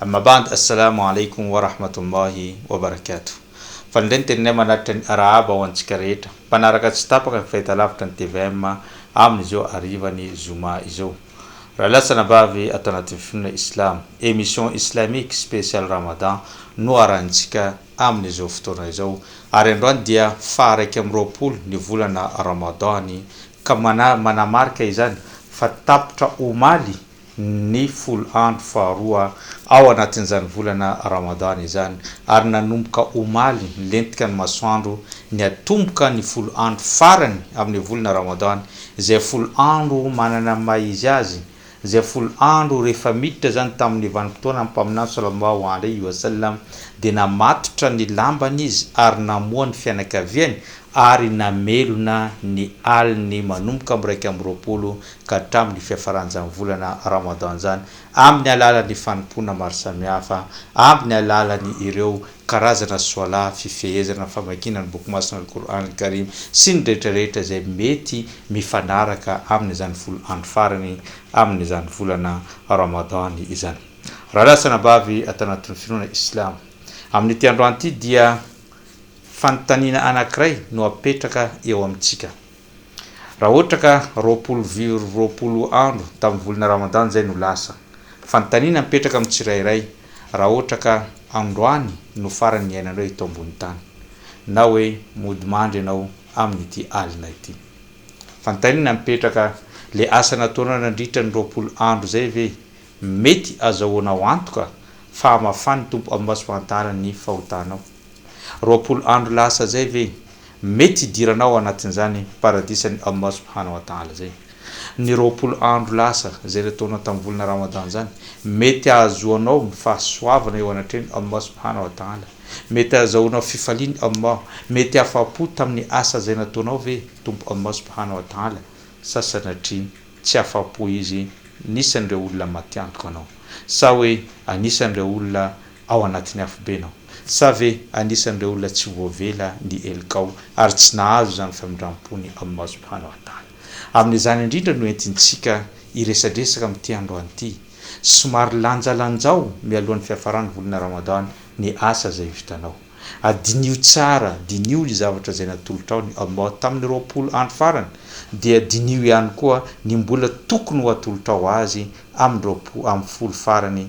Amma ba'd Assalamu alaikum wa rahmatullahi wa barakatuh Fa indray ny teninay manatitra ny Arahaba ho antsika rehetra mpanaraka tsy tapaka ny fahitalavitra ny tvm amin izao hariva ny Zoma izao Raha lasa anabavy ato anatin'ny finoana Islam Emission Islamique Spécial Ramadan no arahintsika amin izao fotoana izao ary androany dia faha iraika amby roapolo ny volana Ramadan ny ka manamarika izany fa tapitra omaly ny folo andro faharoa ao anatin'izany volana Ramadany izany, ary nanomboka omaly nilentika ny masoandro niatomboka ny folo andro farany amin'ny volana Ramadany, izay folo andro manana ny maha izy azy, izay folo andro rehefa miditra izany tamin'ny vanim-potoanan'ny Mpaminany Sallallahu alaihi wa sallam dia namatotra ny lambany izy ary namoha ny fianakaviany ary namelona ny aliny manomboka miraika amby roapolo ka hatramin'ny fiafaran'izany volana Ramadan izany, amin'ny alalan'ny fanompoana maro samihafa, amin'ny alalan'ny ireo karazana Swalah, fifehezana, famakiana ny Boky Masina Al-Qur'an Al-Karim sy ny rehetra rehetra izay mety mifanaraka amin'izany folo andro farany amin'izany volana Ramadan izany. Rahalahy sy anabavy ato anatin'ny finoana Islamo, amin'ity androany ity dia fanontaniana anankiray no apetraka eo amintsika. Raha ohatra ka roapolo vio roapolo andro tamin'ny volana Ramadan izay no lasa. Fanontaniana mipetraka amin'ny tsirairay, raha ohatra ka androany no farany niainanao eto ambony tany, na hoe mody mandry ianao amin'ity alina ity. Fanontaniana mipetraka, ilay asa nataonao nandritra ny roapolo andro izay ve mety azahoanao antoka fa hamafan'ny Tompo Am'Masom-pahantaran'ny fahotanao? Roapolo andro lasa zay ve mety hidirana ao anatin'izany paradisan'i Allah subhana wa ta'ala zay? Ny roapolo andro lasa zay le taona tamin'ny volana Ramadan zany mety ahazoanao ny fahasoavana eo anatrehan'i Allah subhana wa ta'ala? Mety ahazahoanao fifalian'i Allah? Mety afa-po tamin'ny asa zay nataonao ve Tompo Allah subhana wa ta'ala sa sanatria tsy afa-po Izy anisan'ireo olona matiantoka anao? Sa hoe anisan'ireo olona ao anatin'ny afobenao. Sa ve anisan'ireo olona tsy voavela ny helikao ary tsy nahazo izany famindram-pony aminao Subhanahu wa Ta'ala? Amin'izany indrindra no entintsika hiresadresaka amin'ity androany ity. Somary lanjalanjao mialohan'ny fiafaran'ny volana Ramadan ny asa izay vitanao. Adinio tsara, diniho ny zavatra izay natolotrao ny Allah tamin'ny roapolo andro farany, dia diniho ihany koa ny mbola tokony ho atolotrao Azy amin'ny roapolo amin'ny folo farany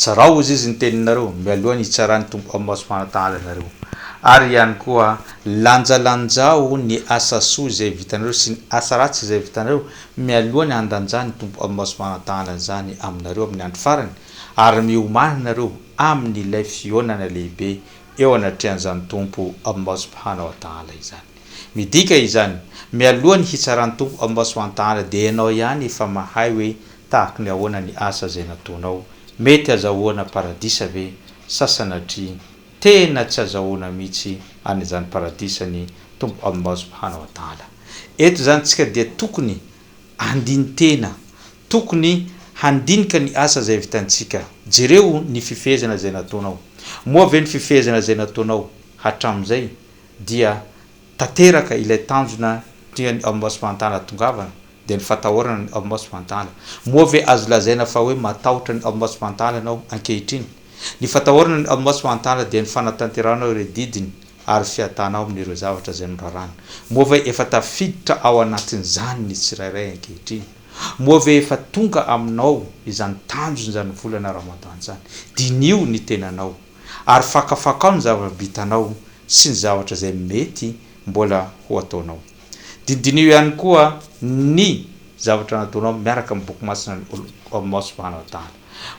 Tsarao hozy izy ny teninareo mialoha ny hitsaràn'ny Tompo amin'ny maso fanatanana anareo. Ary ihany koa, lanjalanjao ny asa soa izay vitanareo sy ny asa ratsy izay vitanareo mialoha ny handanjàn'ny Tompo amin'ny maso fanatanana izany aminareo amin'ny andro farany, ary miomàna ianareo amin'ilay fihaonana lehibe eo anatrehan'izany Tompo amin'ny maso fanatanana izany. Midika izany, mialoha ny hitsaràn'ny Tompo amin'ny maso fanatanana dia ianao ihany efa mahay hoe Tahak'ny ahoana ny asa izay nataonao? Mety azahoana paradisa ve? Sa sanatria tena tsy azahoana mihitsy any izany paradisa ny Tompo Allah subhana wa taala? Eto izany tsika dia tokony handini-tena, tokony handinika ny asa izay vitantsika. Jereo ny fifehezana izay nataonao. Moa ve ny fifehezana izay nataonao hatramin'izay dia tanteraka ilay tanjona tian'ny Ombudsman hahatongavana dia ny fatahorana ny Ombudsman Tala. Moa ve azo lazaina fa hoe matahotra ny Ombudsman Tala ianao ankehitriny? Ny fatahorana ny Ombudsman Tala dia ny fanatanterahanao ireo didiny ary fiadanao amin'ireo zavatra izay noraràny. Moa ve efa tafiditra ao anatin'izany ny tsirairay ankehitriny? Moa ve efa tonga aminao izany tanjona izany volana Ramadan izany? Diniho ny tenanao. Ary fakafakao ny zava-bitanao sy ny zavatra izay mety mbola ho ataonao. Dinidineho ihany koa ny zavatra nataonao miaraka amin'ny Boky masina an'i Allah subhanahu wa ta'ala.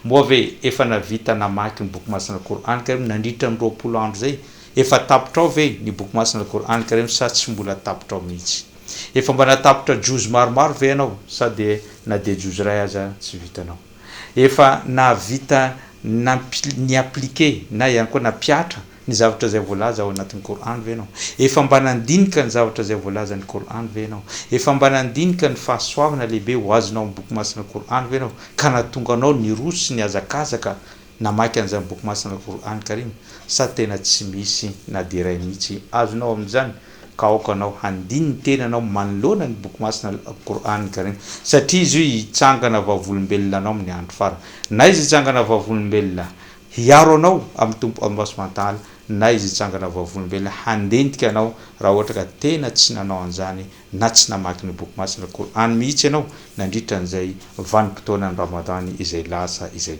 Moa ve efa nahavita namaky ny Boky masina Al-Qour'an Karim nandritra ny roapolo andro izay? Efa tapotrao ve ny Boky masina Al-Qour'an Karim sa tsy mbola tapotrao mihitsy? Efa mba natapotra Juz maromaro ve ianao sa dia na dia Juz iray aza tsy vitanao? Efa nahavita ni-appliquer na ihany koa nampihatra ny zavatra izay voalaza ao anatin'ny Qur'an ve ianao? Efa mba nandinika ny zavatra izay voalazan'ny Qur'an ve ianao? Efa mba nandinika ny fahasoavana lehibe ho azonao amin'ny Boky Masina Qur'an ve ianao ka nahatonga anao niroso sy nihazakazaka Namaky an'izany boky masina Qur'an Karim sa tena tsy misy na dia iray mihitsy azonao amin'izany ka aoka anao handiny ny tenanao manoloana ny boky masina Al-Qur'an Karim satria izy io hitsangana vavolombelona anao amin'ny andro farany na izy hitsangana vavolombelona hiaro anao amin'ny Tompo Allah Subhanahu wa Ta'ala na izy hitsangana vavolombelona handentika anao raha ohatra ka tena tsy nanao an'izany na tsy namaky ny boky masina Qur'an mihitsy ianao nandritra an'izay vanim-potoanan'ny Ramadan izay lasa izay.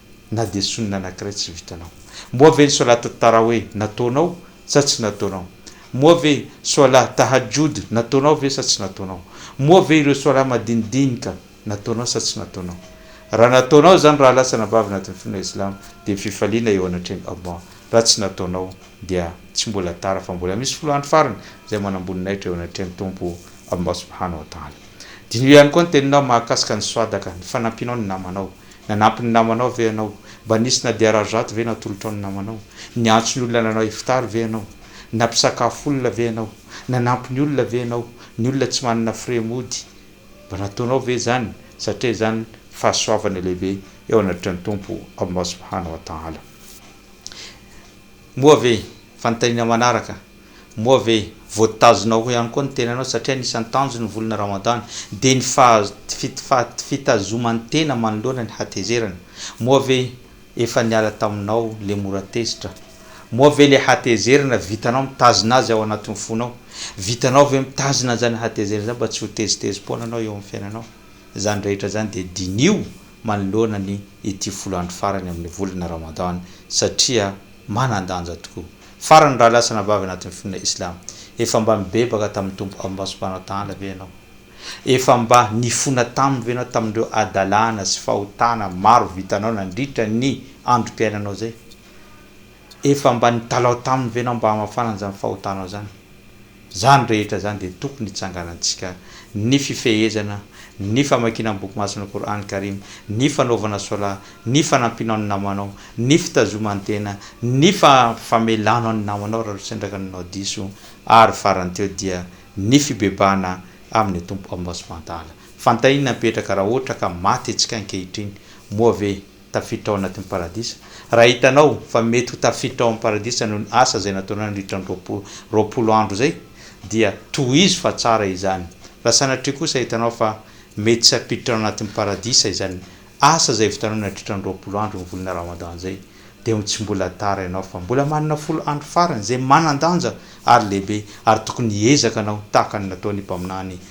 Na dia sonina anankiray tsy vitanao. Moa ve ny solat taraweh nataonao sa tsy nataonao? Moa ve solat tahajjud nataonao ve sa tsy nataonao? Moa ve ireo solat madinidinika nataonao sa tsy nataonao? Raha nataonao izany raha lasa nabavy anatin'ny finoana islamo dia fifaliana eo anatrehan'i Allah. Raha tsy nataonao dia tsy mbola tara fa mbola misy folo andro farany izay manamboninahitra eo anatrehan'ny Tompo Allah subhanahu wa ta'ala. Diniho ihany koa ny teninao mahakasika ny swadaka, ny fanampianao ny namanao, Nanampy ny namanao ve ianao? Mba nisy na dia rarizato ve natolotrao ny namanao? Niantso ny olona nanao iftar ve ianao? Nampisakafo olona ve ianao? Nanampy ny olona ve ianao? Ny olona tsy manana frais mody, mba nataonao ve izany? Satria izany fahasoavana lehibe eo anatreha ny Tompo Allah Subhanahu wa Ta'ala. Moa ve fanontaniana manaraka Moa ve voatazona ho ihany koa ny tenanao satria anisan'ny tanjony ny volana Ramadany dia ny fitazoman-tena manoloana ny hatezerana? Moa ve efa niala taminao le mora tezitra? Moa ve le hatezerana vitanao mitazona azy ao anatin'ny fonao? Vitanao ve mitazona an'izany hatezerana izany mba tsy ho tezitezi-poana anao eo amin'ny fiainanao? Izany rehetra izany dia diniho manoloana ny ity folo andro farany amin'ny volana Ramadany satria manan-danja tokoa. Farany raha lasa anabavy anatin'ny finoana Islam, efa mba nibebaka tamin'ny Tompo Allah subhanahu wa ta'ala ve ianao? Efa mba nifona taminy ve ianao tamin'ireo hadalana sy fahotana maro vitanao nandritra ny androm-piainanao izay? Efa mba nitalaho taminy ve ianao mba hamafana an'izany fahotanao izany? Izany rehetra izany dia tokony hitsanganantsika ny fifehezana, ny famakiana ny Boky Masin'ny Qour'an Karim, ny fanaovana Solah, ny fanampianao ny namanao, ny fitazoman-tena, ny famelanao ny namanao raha losy andraka ny nanao diso, ary farany teo dia ny fibebahana amin'ny Tompo Allah Subhanahu wa Ta'ala. Fantaian'ny napetraka raha ohatra ka maty antsika ankehitriny, moa ve tafiditra ao anatin'ny Paradisa. Raha hitanao fa mety ho tafiditra ao amin'ny Paradisa noho ny asa izay nataonao nandritra ny roapolo, roapolo andro izay, dia tohizo fa tsara izany. Raha sanatria kosa hitanao fa mety tsy hampiditra ao anatin'ny Paradisa izany asa izay vitanao nandritra ny roapolo andro ny volana Ramadan izay, dia ho tsy mbola tara ianao fa mbola manana folo andro farany izay manan-danja ary lehibe ary tokony hiezaka anao tahaka ny nataon'ny Mpaminany